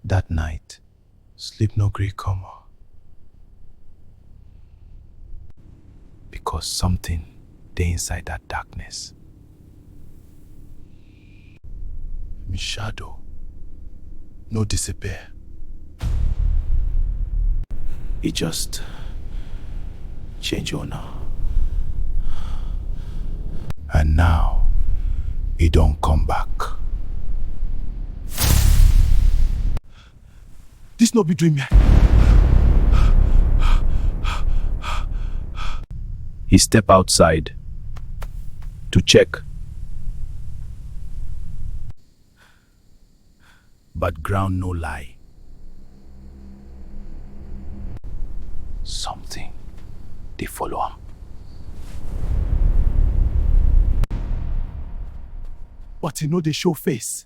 That night, sleep no gree come o. Because something dey inside that darkness. Mi shadow no disappear. E just Change owner. And now, e don come back. This no be dream. He step outside to check. But ground no lie. Something dey follow am. But e no dey show face.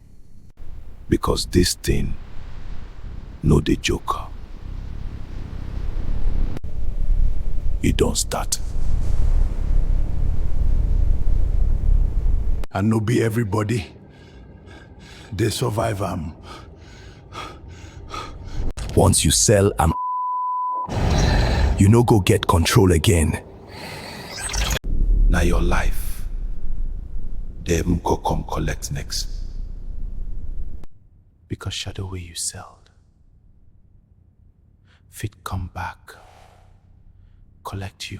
because this thing no dey joke e don start. And no be everybody dey survive am. Once you sell am, you no go get control again. Na your life, dem go come collect next. Because shadow wey you sell fit come back, collect you.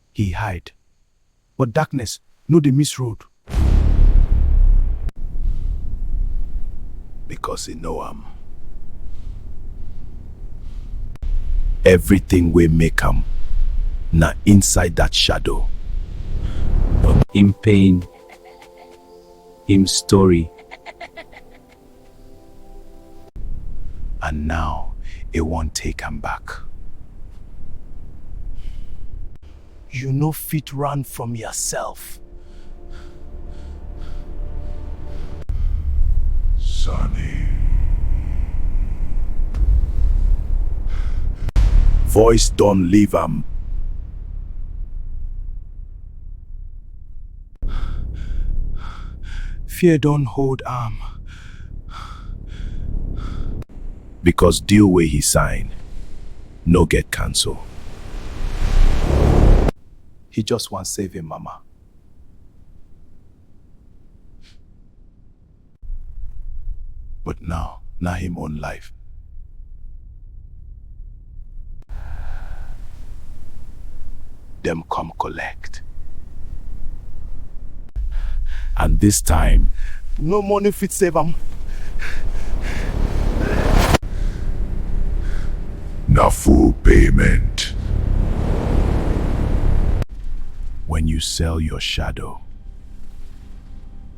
he hide. But darkness no dey miss road. Because he know am. Everything wey make am na inside that shadow. Him pain, him story, and now e wan take am back. You no fit run from yourself. Sonny. Voice don leave am. Fear don hold am. Because deal wey he sign no get cancel. He just wan save him mama. But now, na him own life. Dem come collect. And this time, No money fit save am. na full payment. when you sell your shadow,